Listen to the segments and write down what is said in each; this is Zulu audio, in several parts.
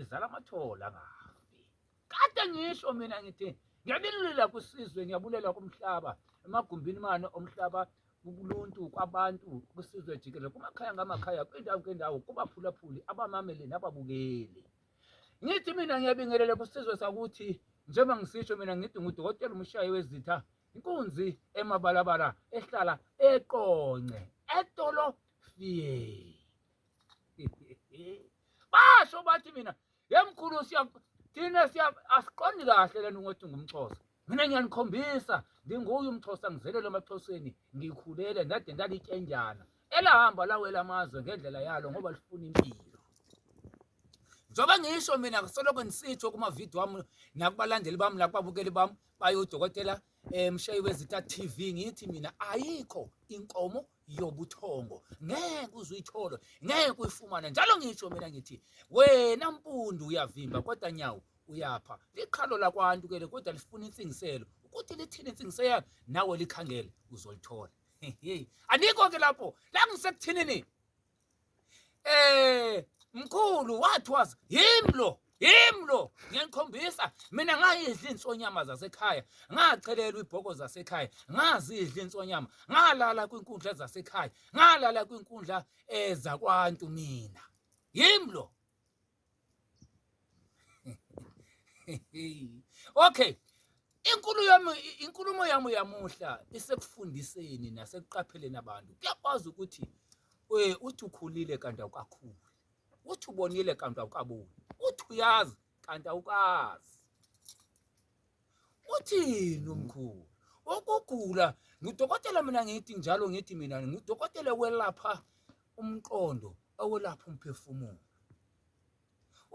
izala amathole angafi kade ngisho mina ngithi ngiyabulela kwisizwe ngiyabulela kumhlaba emagumbini mane omhlaba kuluntu kwabantu kwisizwe jikelele kumakhaya ngamakhaya kwindawo ngendawo kubaphulaphuli abamameli nababukeli ngithi mina ngiyabingelela kwisizwe sakuthi njengoba ngisisho mina ngithi ngudokotela umshayi wezitha inkunzi emabalabala ehlala eqonce etolo fiyeni basho bathi mina yemkhulu siya thina siya asiqondi kahle lento ngothi ngumxhosa mina ngiyanikhombisa nginguye umxhosa ngizelele emaxhoseni ngikhulele ndade ndalityenjana elahamba lawela amazwe ngendlela yalo ngoba lifuna impilo njengoba ngisho mina ngisoloko ngisitsho kumavidiyo wami nakubalandeli bami nakubabukeli bami bayodokotela um eh, mshayi wezita TV ngithi mina ayikho inkomo yobuthongo ngeke uzuyithole ngeke uyifumane njalo ngisho mina ngithi wena mpundu uyavimba kodwa nyawo uyapha liqhalo lakwantu ke le kodwa lifuna insingiselo ukuthi lithini insingiselo yakho nawe likhangele uzolithola anikho ke lapho la ngisekuthinini eh mkhulu what was him lo him lo ngiyanikhombisa mina ngayidla insonyama zasekhaya ngachelelwa ibhoko zasekhaya ngazidla insonyama ngalala kwinkundla zasekhaya ngalala kwinkundla ezakwantu eh, mina him lo okay inkulu yami inkulumo yami yamuhla isekufundiseni nasekuqapheleni abantu kuyakwazi ukuthi eh, uthi ukhulile kanti awukakhuli uthi ubonile kanti awukaboni uthi uyazi kanti awukazi uthini umkhulu ukugula ngudokotela mina ngithi njalo ngithi mina ngudokotela welapha umqondo owelapha umphefumulo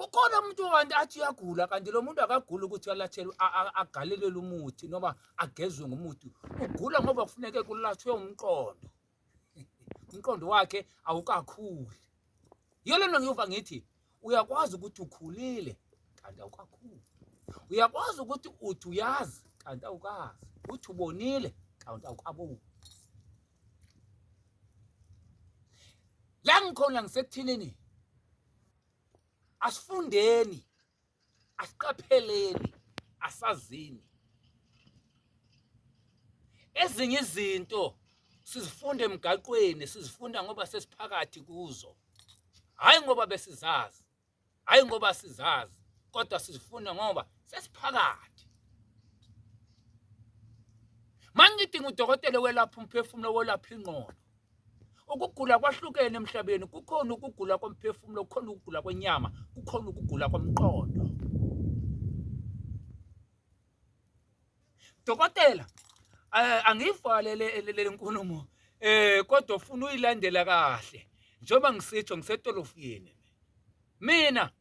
ukhona umuntu kanti athi uyagula kanti lo muntu akaguli ukuthi alathelwe agalelelwe umuthi noma agezwe ngomuthi ugula ngoba kufuneke kulatshwe umqondo umqondo wakhe awukakhuli yiyo le nto ngiyova ngithi uyakwazi ukuthi ukhulile kanti awukakhuli uyakwazi ukuthi uthi uyazi kanti awukazi uthi ubonile kanti awukaboni la ngikhona ngisekuthilini asifundeni asiqapheleni asazini ezinye izinto sizifunda emgaqweni sizifunda ngoba sesiphakathi kuzo hhayi ngoba besizazi hhayi ngoba sizazi kodwa sizifunda ngoba sesiphakathi mangidinga udokotela welapha umphefumulo welapha ingqondo Ukugula kwahlukene emhlabeni, kukhona ukugula komphefumulo, kukhona ukugula kwenyama, kukhona ukugula komqondo. Dokotela, eh, angiyivale le nkulumo eh kodwa ufuna uyilandela kahle njengoba ngisitsho ngisetolofiyeni mina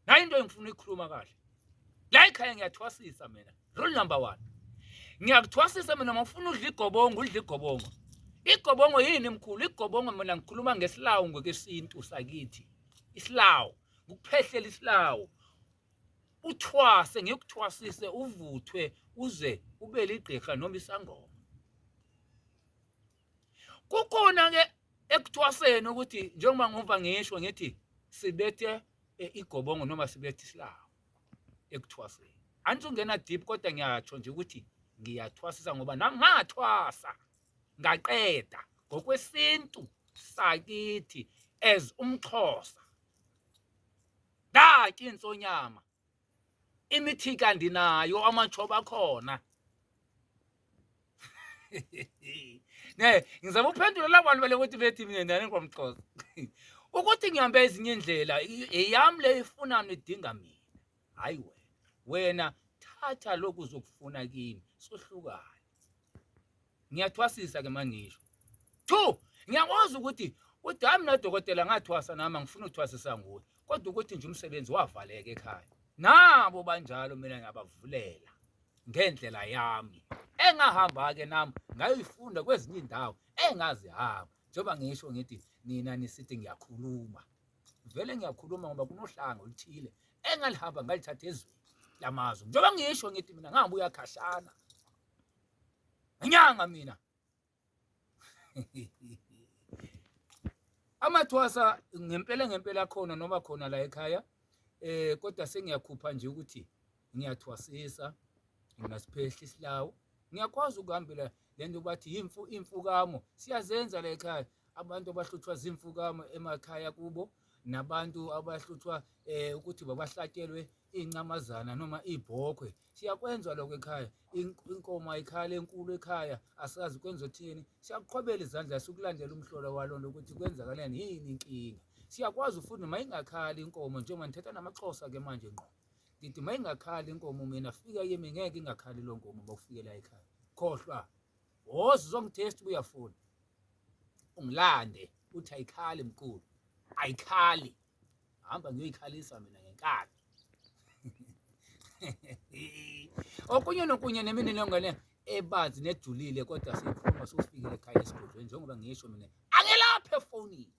nayo into engifuna ukuyikhuluma kahle la ekhaya ngiyathwasisa mina rule number one ngiyakuthwasisa mina uma ufuna udla igobongo udla igobongo igobongo yini mkhulu igobongo mina ngikhuluma ngesilawu ngokwesintu sakithi isilawu ngukuphehlela isilawu uthwase ngikuthwasise uvuthwe uze ube ligqirha noma isangoma kukhona-ke ekuthwaseni ukuthi njengoba ngiva ngisho ngithi sibethe eh, igobongo noma sibethe isilawu ekuthwaseni angithi ungena deep kodwa ngiyatsho nje ukuthi ngiyathwasisa ngoba nami ngathwasa ngaqeda ngokwesintu sakithi as umxhosa ndaki insonyama imithika ndinayo amatshoba akhona ne ngizama ukuphendula labo bantu bale kuthi bethi mina ndane ngomxhosa ukuthi ngihambe ezinye indlela eyami le ifuna nidinga mina hayi wena wena thatha lokhu uzokufuna kimi sohlukane ngiyathwasisa-ke manje ngisho two ngiyakwazi ukuthi udami nodokotela ngathwasa nami angifuna uthwasisa nguye kodwa ukuthi nje umsebenzi wavaleka ekhaya nabo banjalo mina ngiyabavulela ngendlela yami engahamba-ke nami ngayoyifunda kwezinye iy'ndawo engazihamba njengoba ngisho ngithi nina nisithi ngiyakhuluma vele ngiyakhuluma ngoba kunohlanga oluthile engalihamba ngalithatha ezweni lamazwe njengoba ngisho ngithi mina ngabuya khashana ngenyanga mina amathwasa ngempela ngempela khona noma khona la ekhaya eh kodwa sengiyakhupha nje ukuthi ngiyathwasisa ngasiphehla isilawu ngiyakwazi ukuhambela lento bathi imfu imfukamo siyazenza la ekhaya abantu abahluthwa zimfukamo emakhaya kubo nabantu abahluthwa eh ukuthi babahlatshelwe incamazana noma ibhokhwe siyakwenza lokho ekhaya inkomo ayikhale enkulu ekhaya asazi kwenza uthini siyakuqhwabela izandla sikulandela umhlola walo lokuthi kwenzakalani yini inkinga siyakwazi futhi noma ingakhali inkomo njengoba ngithetha namaxhosa ke manje ngqo ngithi uma ingakhali inkomo mina fika yimi ngeke ingakhali lo nkomo uma ufikela ekhaya khohlwa woza uzongitest uba uyafuna ungilande uthi ayikhali mkhulu ayikhali hamba ngiyoyikhalisa mina ngenkani okunye nokunye neminilongane ebazi nejulile kodwa siyikhuluma sowufikile ekhaya esigodlweni njengoba ngisho mina angelaphe efonini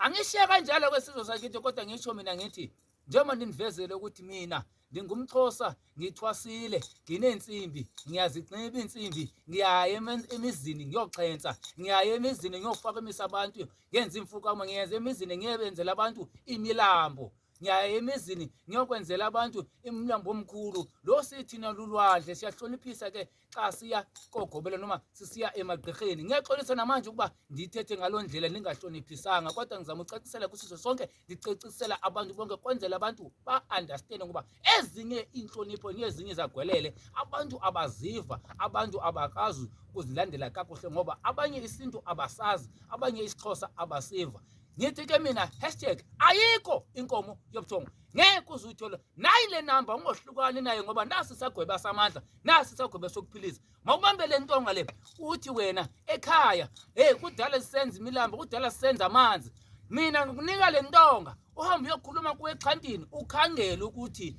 angishiye kanjalo kwesizwe sakithi kodwa ngisho mina ngithi njengoba ndinivezele ukuthi mina ndingumxhosa ngithwasile nginensimbi ngiyazinxiba insimbi ngiyaya emizini ngiyoxhensa ngiyaya emizini ngiyofaka imisa abantu ngenza imfukamo ngiyenza emizini ngiyebenzela abantu imilambo ngiyaya emizini ngiyokwenzela abantu imilambo omkhulu lo sithina lulwandle siyahloniphisa ke xa siya kogobela noma sisiya emagqirheni ngiyaxolisa namanje ukuba ndithethe ngaloo ndlela ndingahloniphisanga kodwa ngizama ucacisela kwisiso sonke ndicacisela abantu bonke kwenzela abantu ba-andastende ngoba ezinye iintlonipho nezinye zagwelele abantu abaziva abantu abakazi ukuzilandela kakuhle ngoba abanye isintu abasazi abanye isixhosa abasiva ngithi ke mina hashtag ayikho inkomo yobuthongo ngeke uze uyithole nayi le namba ungohlukani naye ngoba nasi sagweba samandla nasi isagweba sokuphilisa mawubambe le ntonga le uthi wena ekhaya hey kudala sisenza imilambo kudala sisenza amanzi mina ngikunika le ntonga uhambe uyokhuluma kuwexhantini ukhangele ukuthi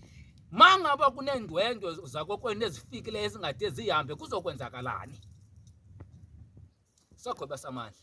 ma ngaba kuneendwendwe zakokwenu ezifikile ezingade zihambe kuzokwenzakalani sagweba samandla